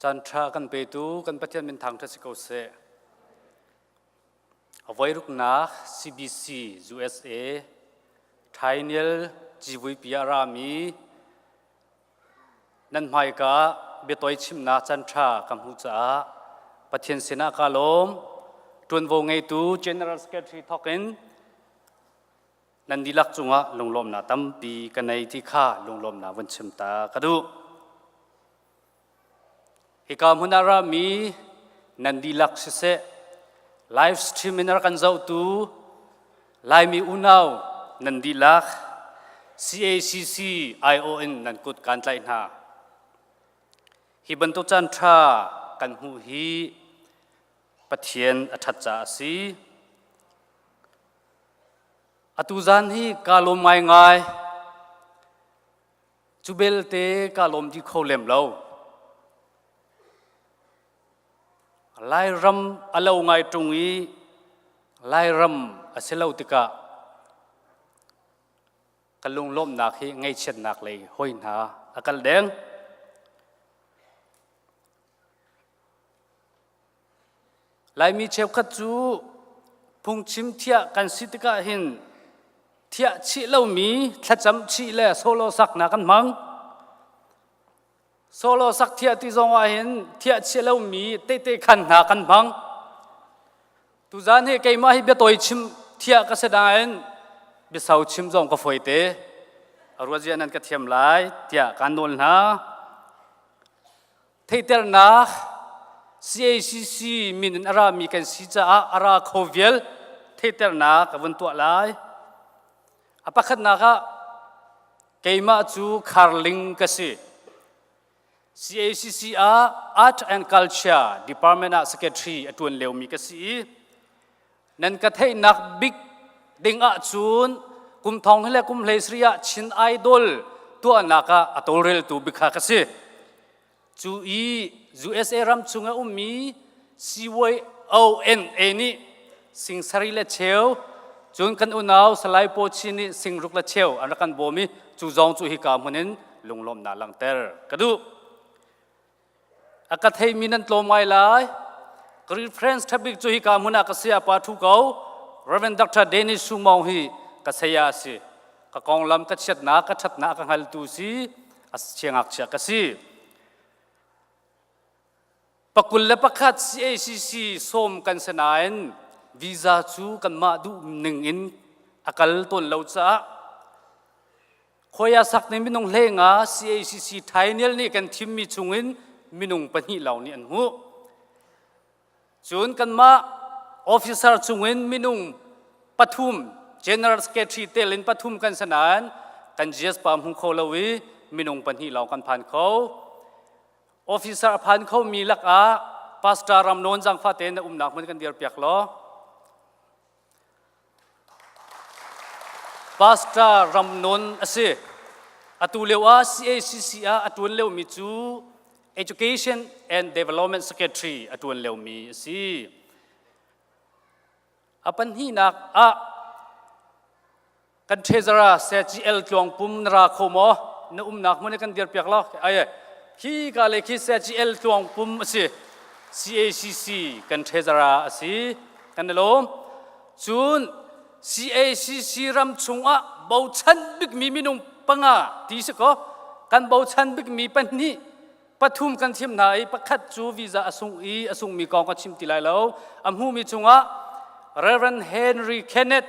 Canṭha kan petu kan Pathian minthang ṭha si ko seh. Avoiruknak CBC USA Thainiel Civuipi ah rami nan hmaika biatoi chimnak canṭha ka hmuh caah Pathian sinah kaa lawm. Ṭuanvo ngeitu General Secretary thawkin nan dihlak cungah lunglawmnak tampi ka nei ti kha lunglawmnak vun chim ta ka duh. Hika hmun ah rami nan dihlak siseh, live stream in ar kan zohtu Laimi unau nan dihlak CACC IO in nan kut kan tlaih hna. Hi bantuk caan ṭha kan hmuh hi Pathian a ṭhat caah a si. Atu zan hi kaa lawm ngaingai. Cu belte kaa lawm ti kho lem lo. Lairam a lo ngai ṭung i Lairam a si lo tikah ka lunglawmhnak hi ngaihchiatnak lei hoi hna a kal deng. Laimi cheukhat cu phungchim thiah kan si tikah hin thiah chih lomi thlacam chih le solo saknak kan hmang. Solo sak thiah ti zong ah hin thiah chih lomi tete khan hna kan hmang. Tuzaan hi keimah hi biatawi chim thiah ka si nain biasau chim zong ka fawi te. A ruazia nan ka thiam lai tiah kaan nawl hna. theiternak cacc min in a rami kan si caah a ra kho vial theiternak a vun tuah lai a pakhatnak ah keimah cu kharling ka si cacc ah art and culture department ah secretary a ṭuan liomi ka si i nan ka theihnak bik dingah cun kum thong le kum hlei sri ah Chin Idol tuahnak ah a tawlreltu bikha ka si. Cu i USA ram chung a ummi CYONA nih singsari le cheu cun kan unau Salai Paw Chin nih singruk le cheu an rak kan bawm i cu zong cu hika hmun in lunglawmhnak langhter ka duh. a ka theimi nan tlawm ngai lai Greek Friends tabik cu hika hmun ah ka saya pa thu ko Reverend Dr. Dennis Sumawng hi ka saya a si ka konglam ka chiatnak ka ṭhatnak ka hngaltu si a siangakchia ka si pakul le pakhat CACC sawm kan si nain visa cu kanmah duh ning in a kal tawn lo caah Khoya sak nih minung hlenga CACC Thainial nih kan thimmi chungin minung pahnih lawng nih an hmuh. Cun kanmah officer chungin minung pathum General Secretary tel in pathum kan si nain kan GSPA hmu kho lo i minung pahnih lawng kan phan kho. Officer a phan khomi lakah Pastor Ram Nawn Zangfate na umnak hmun kan dirpiak law Pastor Ram Nun a si. Atu lio ah CACC ah a ṭuan liomi cu Education and Development Secretary a ṭuan liomi a si. A pahnihnak ah kan treasurer CGL tluang pum na ra kho maw na umnak hmun kan dir piak lo ai khi ka le khi CGL tluang pum asi CACC kan treasurer asi kan lom cun CACC ram chungah bochan bikmi minung panga ti si ko kan bochan bikmi pahnih pathum kan thim hna i pakhat cu visa a sung i a sungmi kong ka chim ti lai lo a hmumi chungah Reverend Henry Kenneth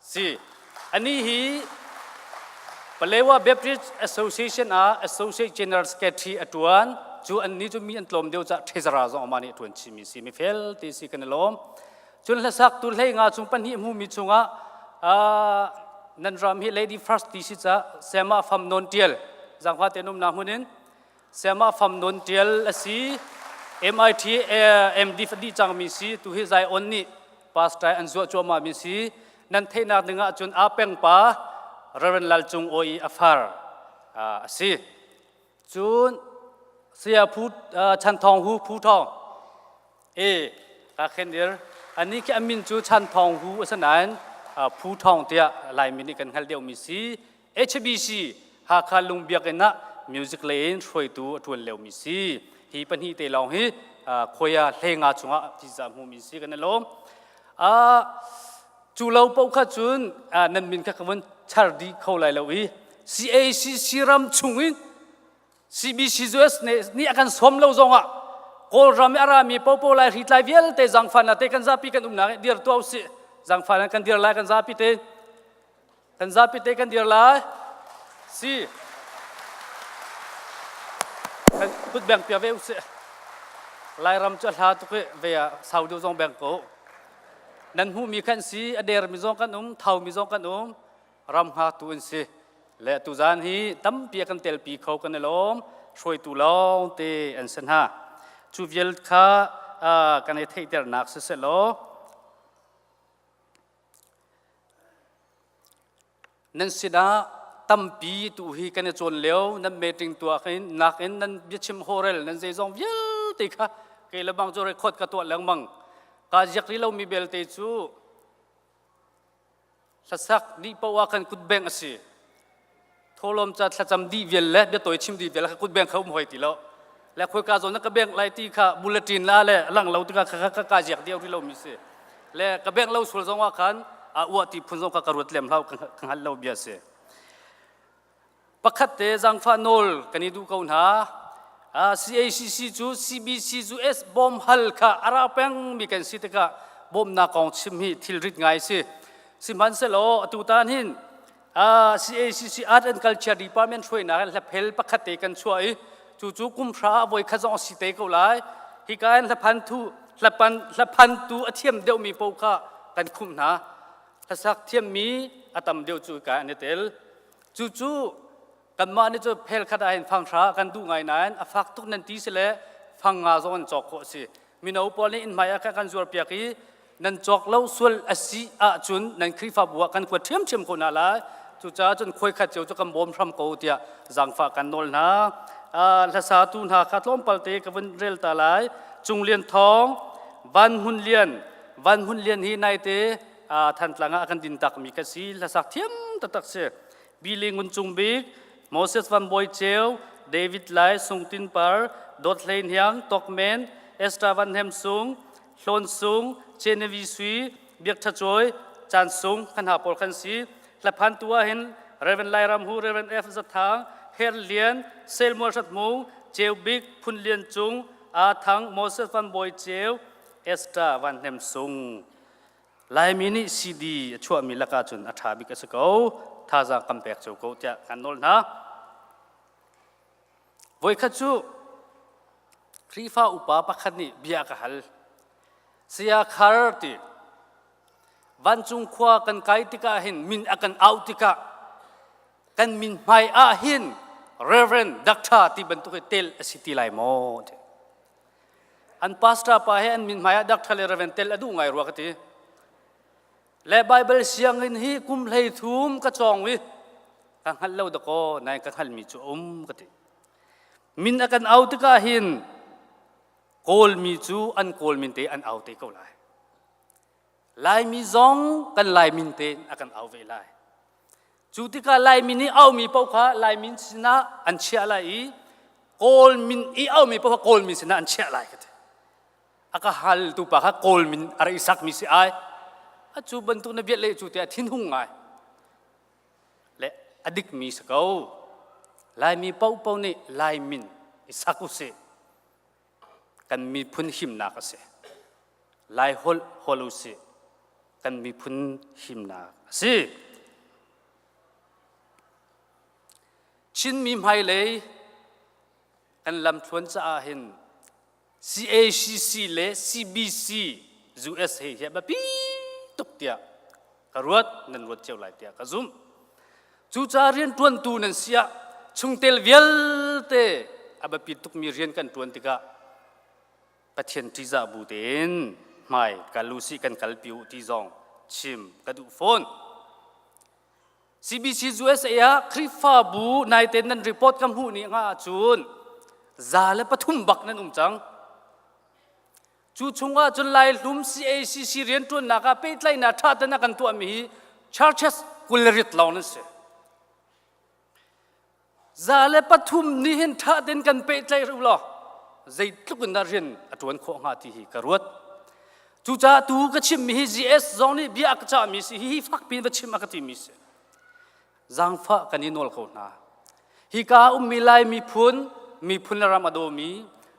si. Anih hi Palewa Baptist Association ah Associate General Secretary a ṭuan. Cu annih cu mi an tlawm deuh caah threzara zong amah nih a ṭuan chihmi a si. Mi fel ti si kan i lawm. Cun hlaktu hlei nga chung pahnih hmumi chungah ah nan ram hi Lady First ti si caah Sama Fam Nawn Ṭial, zaangfate an umnak hmun in Sayamah Fam Nawn Ṭial a si. MIT MD a dih cangmi si. Tu hi Zion nih pastor an zuah cuahmahmi si. Nan theihnak ding ahcun aa pengpa Reverend Lal Cung Awi i a far a si. Cun saya Phu Chan Thawng Hu Phu Thawng e ka khendir ani khi amin cu Chan Thawng Hu a si nain Phu Thawng tiah Laimi nih kan hngal deuhmi si HBC Hakha Lung Biakinn ah music lei in hruaitu a ṭuan liomi si. Hi pahnih te lawng hi khoia hlei nga chungah thisa hmumi si kan i lawm. cu lo paoh kha cun nan min kha ka vun char dih kho lai lo i CACC ram chung in CBC US nih a kan sawm lo zongah Kawlram i a rami popo lai hri tlai vialte zangfan la te kan zapi kan umnak dir tuah usih zangfan kan dir lai kan zapi te Kan zapi te kan dir lai. Si. Kan kut beng pia ve usih. Lairam cu a hla tuk i ve ah sau deuh zong beng ko. Nan hmuhmi kan si, a dermi zong kan um, thaumi zong kan um. Ram nga tu an si. Le tu zan hi tampi a kan telpi kho kan i lawm. Hruaitu lawng te an si hna. Cu vial kha uh, kan i theihternak siseh law, nan sinah tampi tu hi kan i cawn lio nan meeting tuah nakin nan biachim horel nan zeizong vialte kha kei le bang cu record ka tuah lengmang ka ziak rih lomi belte cu hlasak nih poah khan kut bengh a si tholom ca thlacam dih vial le bia toi chim dih vial kha kut beng kha um hoi ti lo le khoi ka zawn na ka beng lai ti kha bulletin la le lang lo tinga kha ka ka jiak deu ri lo mi si le ka beng lo sul zong wa khan a uwa ti phun zong kha ka ruat lem lau ka hal lo bia si pakhat te zangfa nol kani du ko na CACC cu CBC cu S bom hal kha ara peng mi kan si tika bom na kong chim hi thil rit ngai si sihmanhselo atutan hin CACC Art and Culture Department hruainak in hlaphel pakhat te kan chuah i cu cu kumhra ah voi khat zong si te ko lai hika in hlaphan tu hlapan hlaphan tu a thiam deuhmi paoh kha kan khumh hna hlasak thiammi a tam deuh cu hika an i tel cucu Kanmah nih cu phel khat ahhin fanghra kan duh ngai nain a fak tuk nan ti si le fang nga zong an cawk khawh a si. Mino pawl nih innhmai ah kah kan zuarpiak i nan cawk lo sual a si ahcun nan Khrihfabu ah kan kuat ṭhiamṭhiam ko hna lai. Cucaah cun khuaikhat cio cu kan bawm hram ko tiah zaangfah kan nawl hna. Uh, hlasatu hna kha tlawmpal te ka vun rel ta lai. Cung Lian Thawng, Van Hun Lian, Van Hun Lian hi naite uh, Thantlang ah a kan din takmi ka si. Hlasak thiam taktak si. Billy Ngun Cung Bik, Moses Van Bawi Ceu, David Lai Sung Tin Par, Dawt Hlei Hniang Tok Men, Esther Van Hem Sung, Hlawn Sung, Genevieve Sui, Biak Tha Cawi, Chan Sung, Khanha pawl kan si. Hlaphan tu ah hin Reverend Lairam Hu, Reverend F. Zathang, Her Lian, Selmual Sat Hmung, Ceu Bik, Phun Lian Cung, A Thang, Moses Van Bawi Ceu, Esther Van Hem Sung. Laimi nih CD a chuahmi lakah cun a ṭha bik a si ko. Thazaang kan pek cio ko tiah kan nawl hna. Voikhat cu Khrihfa upa pakhat nih bia ka hal. Saya Khar ti vancung khua kan kai tikah hin min a kan auh tikah kan min hmai ah hin Reverend Doctor ti bantuk hi tel a si ti lai maw? an pastor pa he an min hmai ah doctor le raven tel a duh ngai rua ka ti le bible sianginn hi kum hlei thum ka cawng i ka hngal lo dakaw nain ka hngalmi cu um ka ti min a kan au tikah hin kawlmi cu an kawl min te an au te ko lai laimi zong kan lai min te a kan au ve lai Cu tikah Laimi nih aumi paoh kha Laimin sinah an chiah lai i Kawl min i aumi paoh kha Kawlmin sinah an chiah lai ka ti. A ka haltu pa kha Kawlmin a ra i sakmi si ai. Atu bantuk na biat le cu tiah thinhung ngai. Le a dikmi si ko. Laimi paohpaoh nih Laimin i sak usih. kan miphun himnak a si. Lai holh hol u sih. Kan miphun himnak a si. Chinmi hmailei kan lamthluan caah hin CACC le CBC US hi hi a biapi tuk tiah ka ruat nan ruat cio lai tiah ka zumh cucaah rianṭuantu nan si ah chungtel vialte a biapit tukmi rian kan ṭuan tikah Pathian ṭihzah bu tein hmai ka lusi kan kalpi u ti zong chim ka duh fawn CBC USA ah Khrihfabu nai tein nan report ka hmuh ni hnga ahcun za le pathum bak nan um cang Cu chungah cun Lai hlum CACC rianṭuannak ah pehtlaihnak ṭha ten a kan tuahmi hi churches kul le rit lawng nan si. Za le pathum nih hin ṭha ten kan pehtlaih u law zeitluk in dah rian a ṭuan khawh hnga ti hi ka ruat. Cucaah tu ka chimmi hi GS zong nih bia a ka cahmi si, hihi fakpi in va chim a ka timi si. zangfah kan i nawl ko hna. Hika ummi Lai miphun, miphun le ram a dawmi,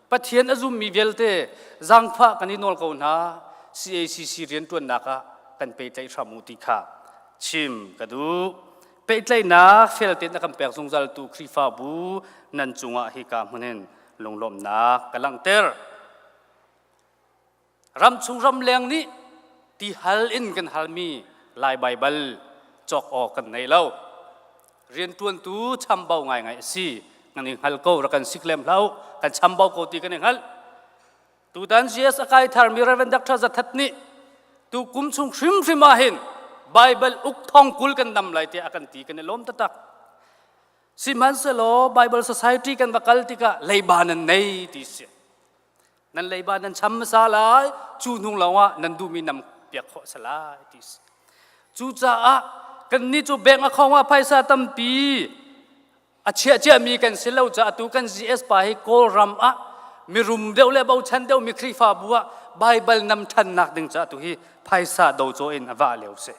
Pathian a zummi vialte zangfah kan i nawl ko hna, CACC rianṭuannak ah kan pehtlaih hram u ti kha chim ka duh. Pehtlaihnak fel tein a kan pek zungzaltu Khrihfabu nan cungah hika hmun hin lunglawmhnak ka langhter. ramchung ramleng nih ti hal in kan halmi Lai Baibal cawk awk kan nei lo. Rianṭuantu chambau ngaingai a si. Kan i hngal ko, rak kan sik lem hlah kan chambau ko ti kan i hngalh. Tutan CS a kai tharmi Reverend Dr. Zathat nih tu kum chung hrimhrim ah hin Baibal uk thong kul kan dam lai tiah a kan ti kan i lawm taktak. Sihmanhsehlaw Bible Society kan va kal tikah leiba nan nei ti si. nan leiba nan cham hmasa lai cu hnung lawngah nan duhmi nam piak khawh a si lai ti cucaah kannih cu bank account ah phaisa tampi a chiah ciami kan si lo caah tu kan GS pa hi Kawlram ah mirum deuh le bochan deuh mi Khrihfabu ah Baibal nam ṭhannak ding caah tu hi phaisa docaw in a vah lio si.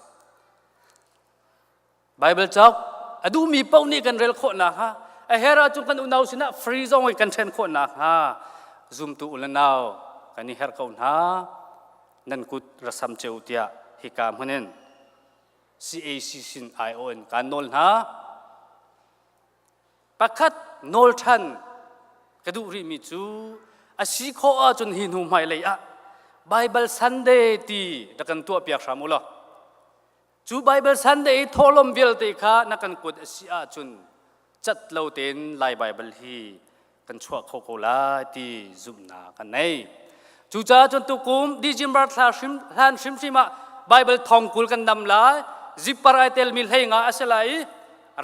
Bible cok a duhmi paoh nih kan rel khawh nakhnga a her ahcun kan unau sinah free zong i kan ṭhen khawh nakhnga zumtu u le nau kan i herh ko hna nan kut ra sam ceu tiah hika hmun in CAC sin aiawh in kaan nawl hna pakhat nawl ṭhan ka duh rihmi cu a si khawh ahcun hi hnu hmailei ah Bible Sunday ti rak kan tuahpiak hram u law Cu Baibal Sunday i thawhlawm vialte kha na kan kuat a si ahcun cat lo tein Lai Baibal hi kan chuah kho ko lai ti zumhnak kan nei. Cucaah cun tukum December thla hrim, hlan hrimhrim ah Baibal thongkul kan dam lai. Zippar ai telmi hlei nga a si lai i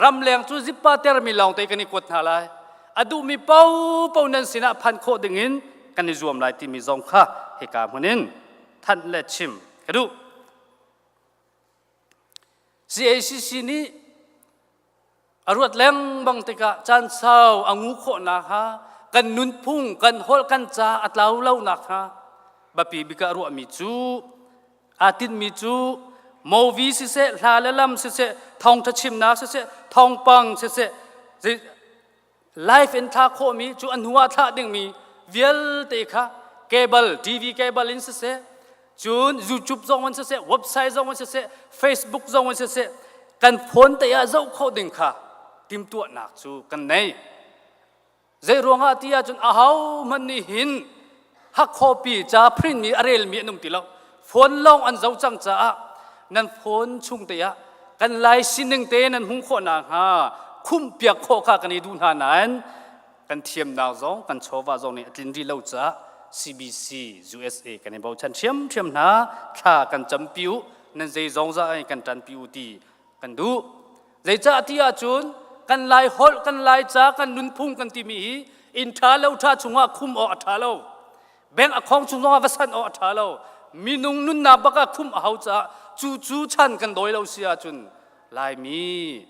ramleng cu zippa termi lawng te kan i kuat hna lai. A duhmi paopaoh nan sinah phanh khawh dingin kan i zuam lai timi zong kha hika hmun in thanh le chim ka duh. CACC nih a ruat lengmang tikah caan sau a ngu khawhnak hnga kan nunphung, kan holh, kan ca a tlau lonak hnga biapi bik ah ruahmi cu aa tinhmi cu movi siseh, hla le lam siseh, thawngtha chimnak siseh, thawngpang siseh, Life in thla khawhmi cu a hnu ah thlah dingmi vialte kha cable TV cable in siseh cun YouTube zong in siseh website zong in siseh Facebook zong in siseh kan phone te ah zoh khawh ding kha timtuahnak cu kan nei. Zei ruangah ti ahcun ahohmanh nih hin hak khuapi ca print mi a rel mi an um ti lo phone lawng an zoh cang caah nan phone chung te ah kan lai sining te nan hung khawh na hnga khumh piak khawh kha kan i duh hna nain kan thiamnak zong kan chawva zong nih a tlin rih lo caah CBC USA kan i bochan hriamhriam hna thla kan campi u nan zeizong za kan ṭanpi u ti kan duh Zeicah ti ahcun kan lai holh, kan lai ca, kan nunphung kan timi hi inn ṭha lo ṭha chungah khum awk a ṭha lo. Bank a khawng chung zongah va sanh awk a ṭha lo. Minung nunnak bak ah khumh a hau caah cu cu chan kan dawi lo si ahcun Laimi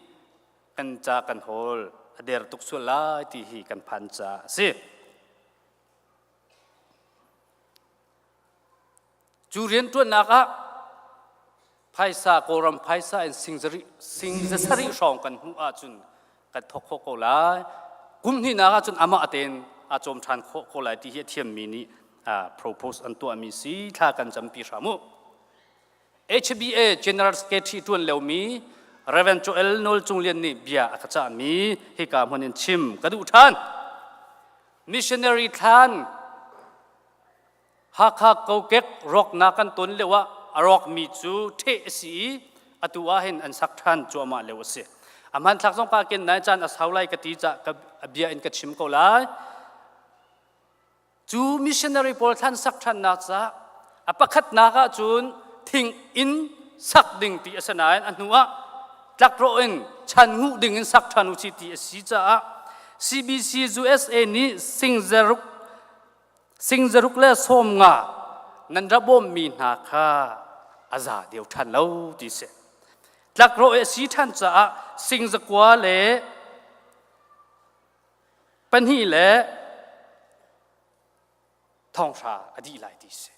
kan ca kan hawl a der tuk sual lai ti hi kan phan caah a si. Cu rianṭuannak ah phaisa Kawlram phaisa in sing za sarih hrawng kan hmuh ahcun kan thawk khawh ko lai. Kum hnihnak ahcun amah tein a cawm ṭhan khawh ko lai ti hi a thiammi nih propose an tuahmi si thla kan campi hram u. HBA General Secretary ṭuan liomi Reverend Joel Nawl Cung Lian nih bia a ka cahmi hika hmun in chim ka duh ṭhan. Missionary thlan Hakha kokek rawknak kan ton lio ah a rawkmi cu ṭheh a si i atu ahhin an sak ṭhan cuahmah lio a si. A hmanthlak zong ka ken nai caan a sau lai ka ti cah ka a bia in ka chim ko lai. Cu missionary pawl thlan sak ṭhannak cah a pakhatnak ah cun thing in sak ding ti a si nain a hnu ah tlakrawh in chan nguh ding in sak ṭhan u si ti a si caah CBC USA nih singzaruk sing zaruk le sawm nga nan ra bawmmi hna kha a za deu ṭhan lo ti si. Tlakrawh i a si ṭhan caah sing zakua le pahnih le thonghra a dih lai ti si.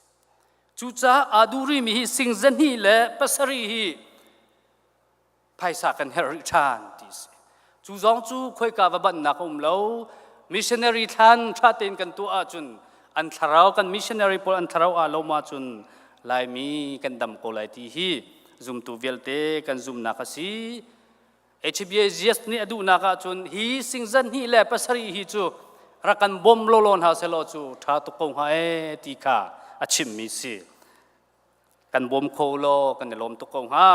Cucaah aa durimi hi sing zahnih le pasarih hi phaisa kan herh rih ṭhan ti a si. Cu zong cu khoika va bannak a um lo. Missionary thlan ṭha tein kan tuah ahcun an thlarau kan missionary pawl an thlarau aa lo ahcun Laimi kan dam ko lai ti hi zumtu vialte kan zumnak a si. HBAGS nih a duhnak ahcun hi sing zanhnih le pasarih hi cu rak kan bawm lawlaw hna sehlaw cu ṭha tuk ko hnga ee ti kha a chimmi si. kan bawm kho law kan i lawm tuk ko hnga.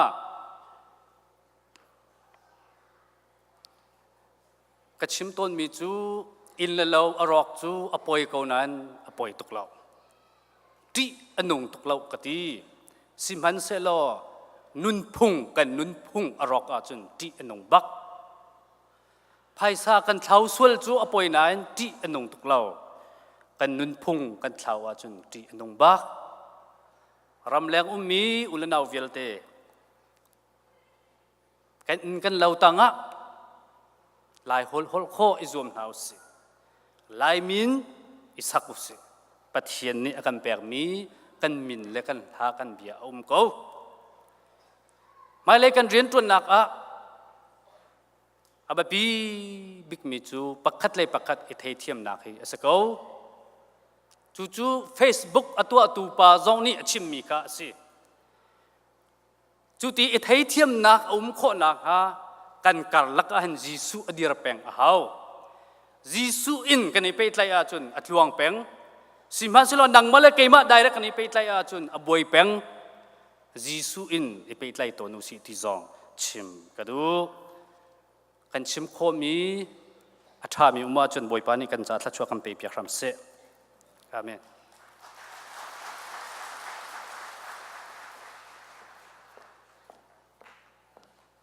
Ka chim tawnmi cu inn le lo a rawk cu a poi ko nain a poi tuk lo. Ṭih a nung tuk lo ka ti. Sihmanhsehlaw nunphung kan nunphung a rawk ahcun ṭih a nung bak. Phaisa kan thlau sual cu a poi nain ṭih a nung tuk lo. Kan nunphung kan thlau ahcun ṭih a nung bak. Ramleng ummi ulenau vialte kan inn kan lo tangah Lai holh khawh i zuam hna usih. Lai min i sak usih. Pathian nih a kan pekmi kan min le kan hla kan bia a um ko. Hmailei kan rian ṭuannak ah A biapi bikmi cu pakhat le pakhat i theithiamnak hi a si ko. Cucu Facebook a tuahtu pa zong nih a chimmi kha a si. Cuti i theithiamnak a um khawh nakhnga kan karlak ah hin Jesuh a dir peng a hau. Jesuh in kan i pehtlaih ahcun a tluang peng. Sihmanhsehlaw nangmah le keimah direct kan i pehtlaih ahcun a buai peng. Jesuh in i pehtlai tawn u sih ti zong chim ka duh. Kan chim khawhmi a ṭhami um ahcun Bawipa nih kan caah thluachuah kan pe piak hram seh. Amen.